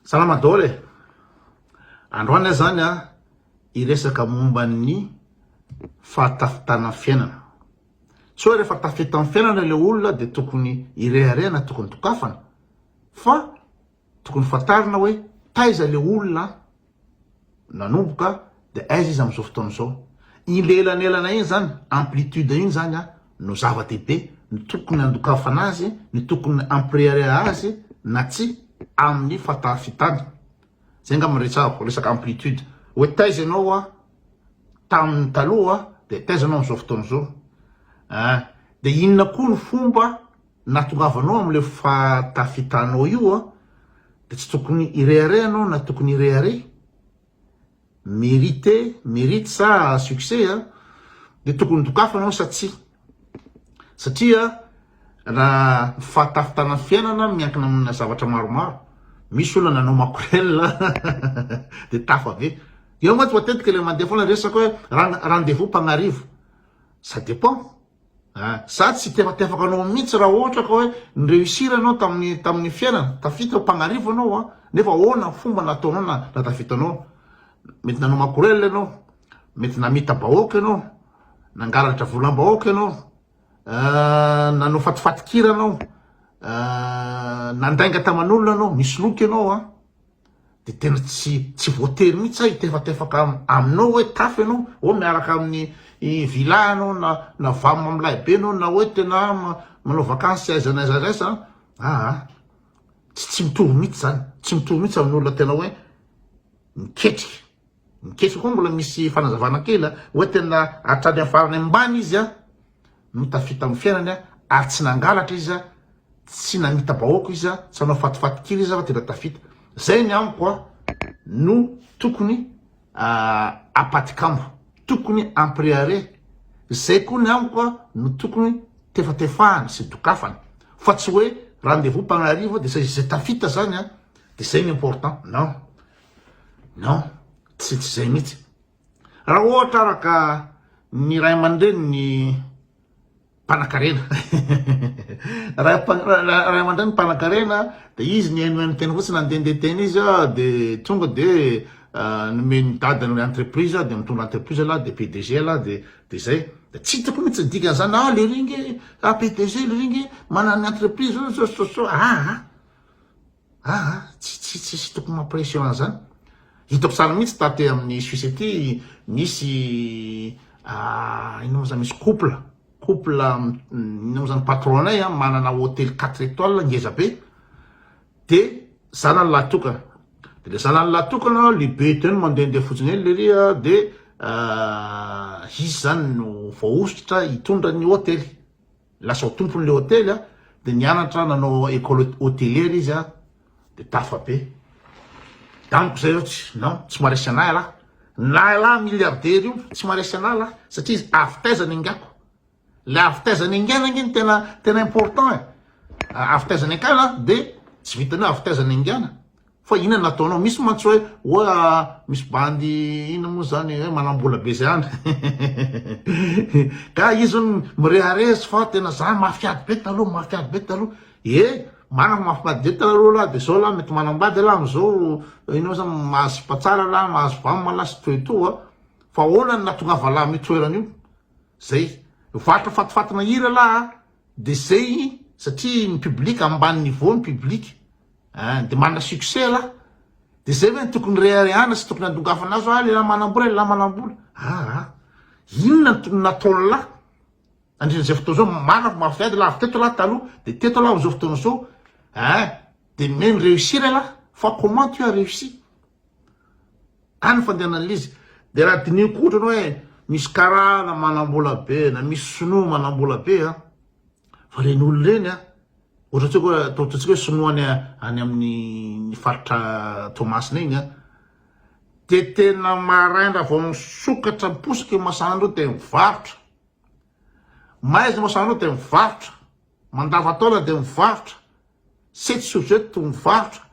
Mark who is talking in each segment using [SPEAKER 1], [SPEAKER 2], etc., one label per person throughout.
[SPEAKER 1] Salama daholo e! Androany aho zany a hiresaka momba ny fahatafitana ny fiainana. Tsy hoe rehefa tafita amin'ny fiainana ilay olona dia tokony hirehareha na tokony dokafana fa tokony fantarina hoe taiza ilay olona a! nanomboka dia aiza izy amin'izao fotoana izao. Iny lelanelana iny izany, amplitude iny izany no zava-dehibe, ny tokony handokafana azy, ny tokony hampirehareha azy na tsia amin'ny fahataafitana. Izay angamba no resahako, resaka amplitude. Hoe taiza ianao tamin'ny taloha dia taiza ianao amin'izao fotoana izao. Dia inona koa ny fomba. natongavanao amin'ilay fahatafitanao io an, dia tsy tokony hirehareha ianao na tokony hirehareha, mérité, mérite sa succès an, dia tokony dokafana ianao sa tsia, satria raha ny fahatafitanan'ny fiainana miankina amina zavatra maromaro, misy olona nanao makorel dia tafa be, eo mantsy matetika ilay mandeha foana resaka hoe rendez-vous mpagnarivo, ça dépend. Ah, za tsy tefatefaka anao mihitsy raha ohatra ka hoe ni-reussir anao tamin'ny tamin'ny fiainana, tafita ho mpagnarivo anao an, nefa ahoana ny fomba nataonao na na tafita anao? Mety nanao makorel ianao, mety namita bahoaka ianao, nangalatra volam-bahoaka ianao, ah, nanao fatifatin-kira ianao, ah, nandainga taman'olona ianao, nisoloky ianao an. de tena tsy tsy voatery mihitsy sa hitefatefaka aminao hoe tafo ianao oh miaraka amin'ny villa ianao na na vam amin'ny lahibe ianao na hoe tena manao vakansy aiza na aiza aiza aa tsy tsy mitovy mihitsy zany tsy mitovy mihitsy amin'ny olona tena hoe miketrika miketrika koa mbola misy fanazavana kely hoe tena hatrany amin'ny farany ambany izy a no tafita amin'ny fiainany ary tsy nangalatra izy, tsy namita-bahoaka izy, tsy nanao fatofatokiry izy fa tena tafita. Zay ny amiko no tokony apatikambo, tokony ampriare, zay koa ny amiko no tokony tefatefahana sy dokafana fa tsy hoe rendez-vous mpagnarivo de zay zay tafita zany de zay ny important, non, non, tsy zay mihitsy. Raha ohatra ara ka ny ray aman-dreny ny mpanakarena ray aman-dreny ny mpanakarena dia izy nihainohaino teny fotsiny nandehandeha teny izy dia tonga dia ah, nomen'ny dadany entreprise dia mitondra entreprise lahy dia PDG lahy dia dia izay dia tsy hitako mihitsy ny dikan'izany ah le ringe ah PDG le ringe manana entreprise so so so ah, ah. Aa tsy tsisy tokony mampression an'zany. Hitako tsara mihitsy taty amin'ny Suisse aty misy aa inona moa zany misy couple couple inona moa zany patron-nay an manana hotely quatre etoiles ngeza be de zanany lahy tokana de le zanany lahy tokana le be eden mandehandeha fotsiny eny lery a de aa izy zany no voahosotra hitondra ny hotely. Lasa ho tompon'ilay hotely aho, dia nianatra nanao école hotelière izy aho, dia tafa be. Amiko izay aho tsy, non, tsy maharesy anah ialahy. Na ialahy milliardaire io, tsy maharesy anah ialahy, satria izy avy taiza ny angako. Ilay avy taiza ny angana ange no tena, tena important e. Avy taiza ny angana dia tsy vitan'ny hoe avy taiza ny angana. Fa inona no ataonao? Misy mantsy hoe oa misy bandy inona moa zany hoe manambola be zay any. Ka izy hono mirehareha izy fa tena za mafy ady be taloha, mafy ady be taloha. E, manako mafy ady be taloha lah de zao lah mety manambady lah am'zao inona moa zany mahazo sipa tsara lah, mahazo vam lah sy toy toa. Fa ahoana no nahatongava lah am'io toerana io? Zay. Varotra fatifatina hira lah a! De zay satria ny public ambany niveau ny public. Hein de manana succès lah de zay ve no tokony reharehana sy tokony andongavana azy hoe ah lehilahy manambola lehilahy manambola aa inona no tokony nataony lah andrin'izay fotoana zao marina mafy ady lah avy teto lah taloha de teto lah am'zao fotoana zao hein de mey mi réussir elah fa comment tu as réussi any fandehanan'izy de raha diniho koa ohatrany hoe misy karana manambola be na misy sinoa manambola be an fa reny olona reny an Ohatra tsika hoe atao ataontsika hoe sinoa any any amin'ny ny faritra Toamasina iny a, dia tena maraina raha vao misokatra ny posy kely masan'andro dia mivarotra, maizina masan'andro dia mivarotra, mandavan-taona dia mivarotra, setsy sur setsy mivarotra,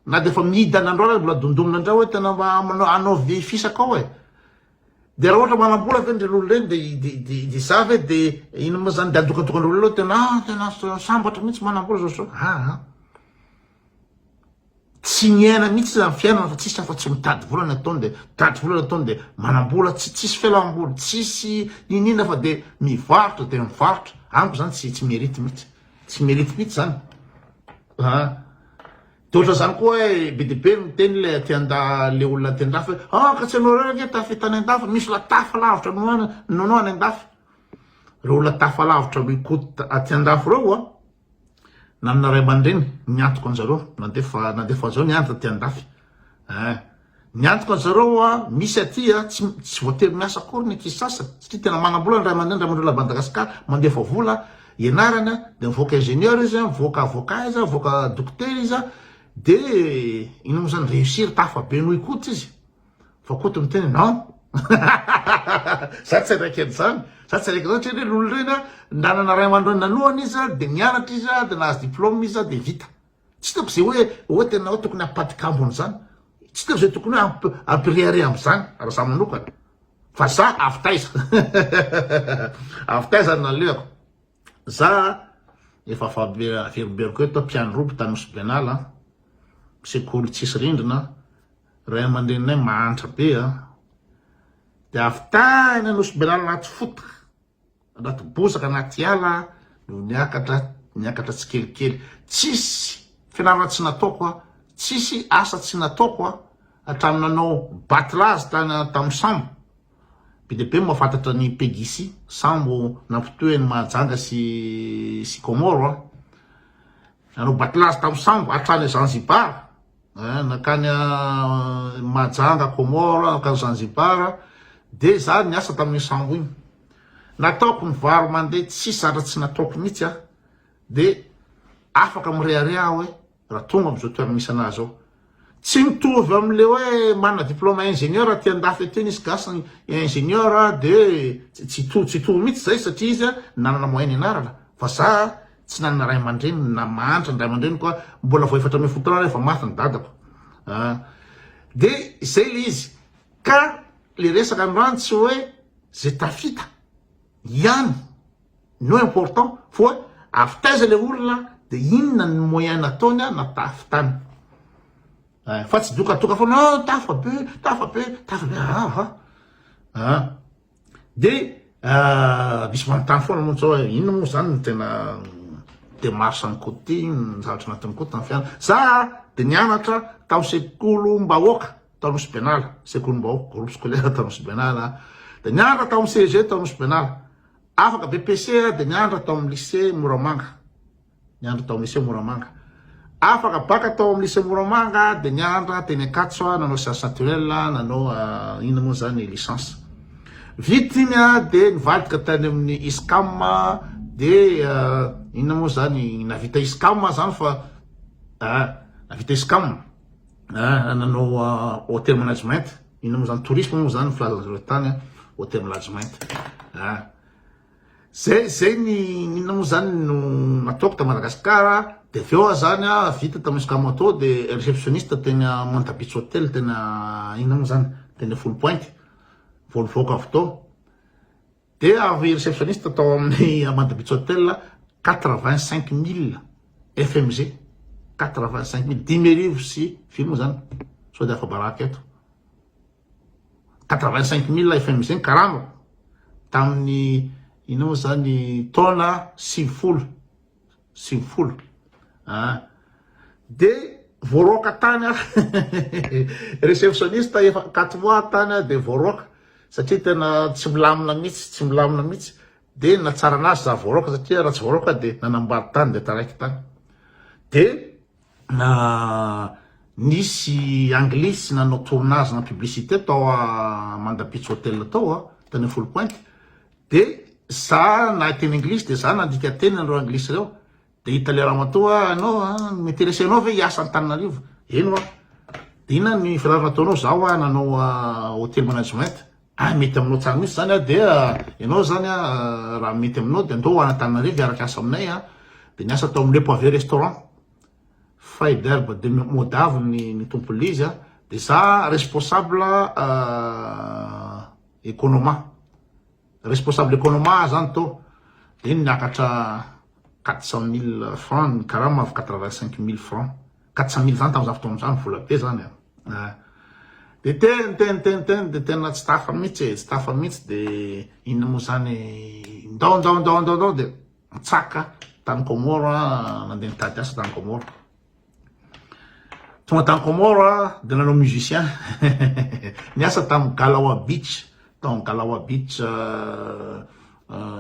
[SPEAKER 1] na dia efa mihidy any androany aza mbola dondonina indray hoe tena mba hanao vy fisaka ao e. De raha ohatra manambola ve ndry lolo reny de de de de za ve de ino ma zany de adokadokan'reo lolo reo tena ah tena sambatra mihitsy manambola zao zao ah ah tsy miaina mihitsy zany fiainana fa tsisy afa tsy mitady vola ny ataony de mitady vola ny ataony de manambola tsy tsisy fialamboly tsisy inina fa de mivarotra de mivarotra amiko zany tsy tsy merite mihitsy tsy merite mihitsy zany ah De ohatra zany koa hoe be de be miteny le aty anda le olona aty andafy hoe ah ka tsy anao reo ange tafy tany andafy misy la tafa lavitra noana noanao any andafy reo olona tafa lavitra mi cote aty andafy reo a nanana ray aman-dreny ny antoko anjareo nandefa nandefa anjareo nianatra aty andafy eh Ny antoko an zareo hoa misy aty a tsy tsy voatery miasa akory ny ankizy sasany satria tena manambola ny ray aman-dreny ny ray aman-dreo la Madagascar mandefa vola ianarany a de mivoaka ingénieur izy a mivoaka avocat izy a mivoaka dokotera izy a de ino mo zany réussir tafa be noho i Koto izy fa Koto miteny hoe non za tsy araiky an zany za tsy araiky an zany satria reny olo reny a nanana ray aman-dreo nanohana izy a de nianatra izy a de nahazo diplôme izy a de vita Tsy hitako izay hoe ohatra ianao tokony hampadikambo an'izany. Tsy hitako izay tokony hoe hampirehareha amin'izany raha za manokana. Fa za avy taiza? avy taiza no nalehako? Za efa averomberoko eto, mpiandry roby tany Nosy-Benala, sekoly tsisy rindrina, ray aman-dreninay mahantra be, dia avy tany Nosy-Benala anaty fota. Anaty bozaka, anaty ala no niakatra, niakatra tsikelikely. Tsisy fianarana tsy nataoko aho, tsisy asa tsy nataoko aho, hatramin'ny nanao batlazy tany tamin'ny sambo. Be dia be ny mahafantatra an'i Pegisi, sambo nampitohy an'i Mahajanga sy sy Comore aho. Nanao batlazy tamin'ny sambo hatrany Zanzibar. eh, nankany eh, Majanga, Comores, nankany Zanzibar, dia za niasa tamin'iny sambo iny. Nataoko ny varo mandeha tsy satra tsy nataoko mihitsy a, dia afaka mirehareha aho hoe raha tonga amin'izao toerana misy anahy zao. Tsy mitovy amin'le hoe manana diplôme ingénieur aty an-dafy aty nisy gasy ny ingénieur dia tsy to tsy to mihitsy zay satria izy nanana moyen ianarana fa za Tsy nanana ray aman-dreniny na mahantra ny ray aman-dreniko aho, mbola vao efatra ambin'ny folo taona aho rehefa maty ny dadako an! dia izay ilay izy, ka ilay resaka androany tsy hoe izay tafita ihany no important fa avy taiza ilay olona dia inona ny moyen nataony an na tafitany fa tsy dokatoka foana, ah tafabe, tafabe, tafabe, ah ah ah. Dia misy manontany foana mantsy hoe inona moa izany no tena démarche-n'i Koty, ny zavatra natin'i Koty tamin'ny fianana. Za dia nianatra tao sekolim-bahoaka tao Nosy Benala, sekolim-bahoaka, groupe scolaire tao Nosy Benala, dia nianatra tao amin'ny CEG tao Nosy Benala. Afaka BPC dia nianatra tao amin'ny lycée Moramanga. Niandry tao Lycée Moramanga. Afaka baka tao amin'ny Lycée Moramanga aho dia nianatra aho teny Ankatso aho, nanao sciences naturelles aho, nanao inona moa izany licence. Vita iny aho dia nivadika tany amin'ny ISCAM dia inona moa izany navita ISCAM aho izany fa navita ISCAM nanao hôtel management, inona moa izany tourisme moa izany ny filazan'izareo tany hôtel management. Zay zay ny inona moa zany no nataoko ta Madagascar de avy eo ah zany ah vita tam escamato de receptioniste teny a monta beach hotel teny a inona moa zany teny a folo pointy vao nivoaka avy tao de avy receptioniste tao amin'ny a monta beach hotel a quatre vingt cinq mille fmg quatre vingt cinq mille dimy arivo sy firy moa zany sao de afa baraka eto Quatre-vingt-cinq mille FMG ny karamako tamin'ny inona moa izany taona sivifolo sivifolo an! dia voaroaka tany aho receptionniste efa quatre mois tany aho dia voaroaka satria tena tsy milamina mihitsy tsy milamina mihitsy dia nahatsara an'asa za voaroaka satria raha tsy voaroaka dia nanambady tany dia taraiky tany dia Nisy anglisy nanao tournage na publicité tao Amanda Beach Hotel tao a, tany amin'ny Four Point, dia za nahay teny anglisy dia za nandika teny an'ireo anglisy ireo, dia i tale ramatoa a, ianao a, mi-interesser anao ve hiasa Antananarivo? Eny hoa, dia inona no fianarana ataonao? Za hoa nanao hotel management. Ahy mety aminao tsara mihitsy zany a, dia ianao zany a raha mety aminao dia andao an'Antananarivo hiaraka hiasa aminay a, dia niasa tao amin'ny Le Poivet Restaurant, Fay Derbe de Modavo ny tompon'ilay izy a, dia za responsable economa, responsable economa aho zany tao, dia niakatra quatre cent mille francs ny karama avy quatre vingt cinq mille francs. Quatre-cent mille zany tamin'izany fotoana izany vola be zany an! Dia teny teny teny teny dia tena tsy tafa mihitsy e, tsy tafa mihitsy dia inona moa izany ndao ndao ndao ndao ndao dia nitsaka tany Comores aho nandeha nitady asa tany Comores tonga tany Comores aho dia nanao musicien niasa tamin'ny Galawa Beach tao Galawa Beach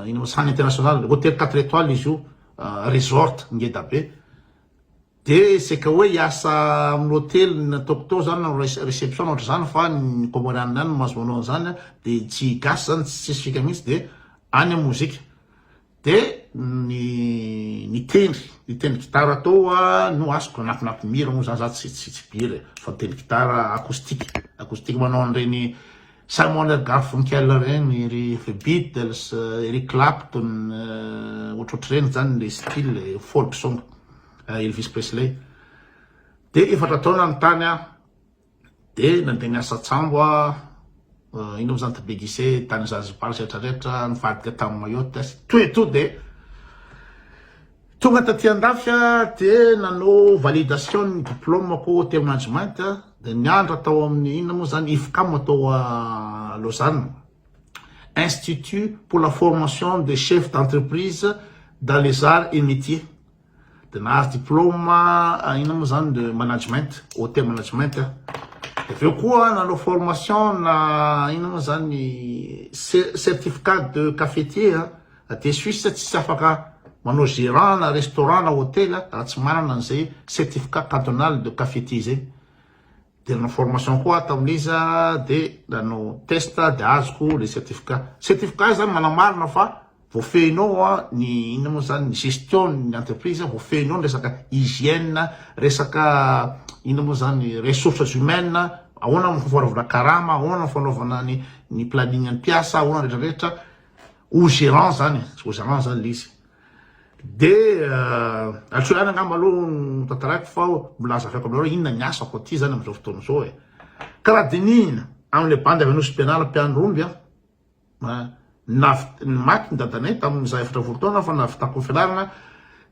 [SPEAKER 1] inona moa Sany International hôtel quatre étoiles izy io resort ngeda be De c'est que hoe hiasa amin'ny hotely ny nataoko tao zany nanao reception na ohatr'izany fa ny comorianina ihany no mahazo manao an'izany an, de tsy gasy zany tsy tsisy fika mihitsy de any amin'ny mozika de ny nitendry nitendry gitara tao an no asiko anatin'ampy mira moa zany za tsy tsy mpihira e fa mitendry gitara acoustique acoustique manao an'ireny Samuel L. Garfunkel ireny, ry The Beatles, Eric Clapton, ohatrohatr'ireny izany ilay style folk song, Elvis Presley. Dia efatra taona aho nitany aho, dia nandeha niasa an-tsambo aho, iny moa izany to be gise tany Zanzibar sy rehetrarehetra, nivadika tamin'i Mayotte, to et to dia Tonga taty andafy aho dia nanao validation ny diplômako teo management dia niandra tao amin'ny inona moa zany IFCAM atao a Lausanne Institut pour la formation des chefs d'entreprise dans les arts et métiers dia nahazo diplôme inona moa zany de management hotel management aho dia avy eo koa nanao formation na inona moa zany certificat de cafetier Aty Suisse tsisy afaka manao gérant na restaurant na hotel raha tsy manana an'izay certificat cantonal de cafetier izay. Dia nanao formation koa aho tamin'iza dia nanao test dia azoko ilay certificat. Certificat izany manamarina fa voafehinao ny inona moa izany ny gestion-n'ny entreprise, voafehinao ny resaka hygiène, resaka inona moa izany ressources humaines, ahoana ny fanaovana karama, ahoana ny fanaovana ny planning-n'ny mpiasa, ahoana rehetrarehetra. au gérant zany e, au gérant zany le izy. De atsy ihany angamba aloha ny tantarako fa mbola azavako aminareo inona ny asako aty zany amin'izao fotoana izao e. Ka raha dinihina amin'ilay bandy avy Anosy Pianala mpiandry omby a, navit- maty ny dadanay tamin'izaho efatra volo taona fa navitako ny fianarana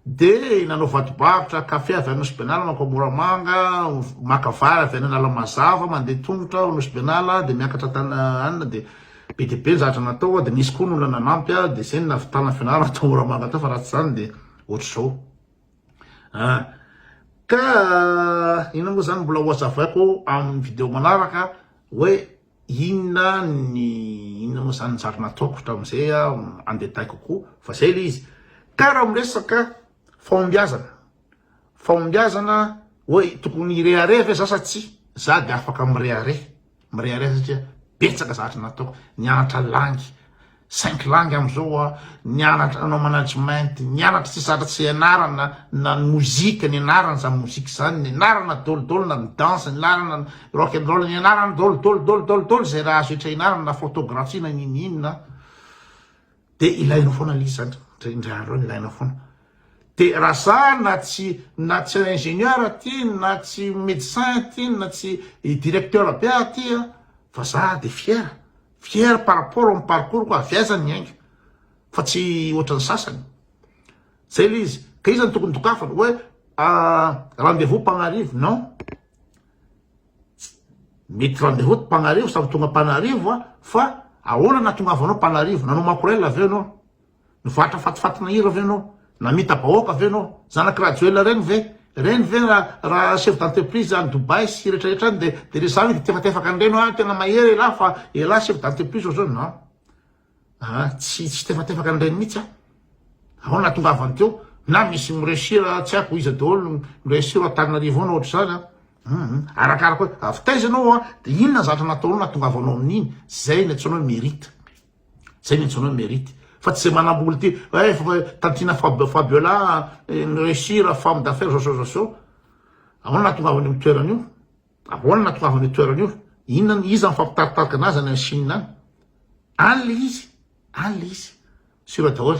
[SPEAKER 1] Dia nanao vadi-barotra kafe avy any Nosy-Benala mankao Moramanga, maka vary avy any Analamazava, mandeha tongotra ao Nosy-Benala, dia miakatra tany any, dia be dia be ny zavatra natao, dia nisy koa ny olona nanampy aho, dia izay no nahavitana fianarana tao Moramanga tao, fa raha tsy izany dia ohatr'izao. Ah. Ka inona moa izany mbola ho hazavaiko amin'ny video manaraka hoe. inona ny inona moa zany njary nataoko hatramin'izay en détail kokoa fa zay le izy ka raha miresaka fahombiazana fahombiazana hoe tokony hirehareha ve za sa tsy za de afaka mirehareha mirehareha satria betsaka zavatra nataoko nianatra langy Cinq langues amzao a, nianatra nanao management, nianatra tsy zatra tsy ianarana na ny mozika nianarana zany mozika zany, nianarana dôly dôly na ny danse nianarana rock and roll nianarana dôly dôly dôly dôly dôly zay raha azo hetra ianarana na photography na n'ino n'ino na de ilainao foana le izy zany ndray ndray andro any ilainao foana de raha za na tsy na tsy ingénieur ty na tsy médecin ty na tsy directeur be aty a fa za de fier fier par rapport amin'ny parcours ko avy aiza ny ainga fa tsy ohatran'ny sasany zay le izy ka iza no tokony dokafana hoe rendez vous Panarivo non mety rendez vous Panarivo samy tonga Panarivo fa ahoana nahatongavanao Panarivo nanao makorel avy eo ianao Nivarotra fatifatina hira ve ianao? Namita bahoaka ve ianao? Zanak'i Rajoelina ireny ve? Ireny ve raha chef d'entreprise any Dubaï sy retraretra any dia dia resaha hoe tefatefaka an'ireny hoe tena mahery elah fa elah chef d'entreprise ohatr'izao non ah tsy tsy tefatefaka an'ireny mihitsy aho ao nahatongavany teo na misy mi-réussir tsy haiko iza daholo mi-réussir ao Antananarivo ao na ohatr'izany an mhm. arakaraka hoe avy taiza ianao an dia inona ny zavatra nataonao nahatongavanao amin'iny izay ny antsoina hoe mérite Zay no antsoina hoe merite fa tsy zay manamboly ty eh fa tantiana Fab Fabiola mi-reussir femme d'affaires zao zao zao zao ahoana nahatongavany am toerana io ahoana nahatongavany io toerana io inona ny iza mifampitaritarika anazy any any Chine any any le izy any le izy sur daholo.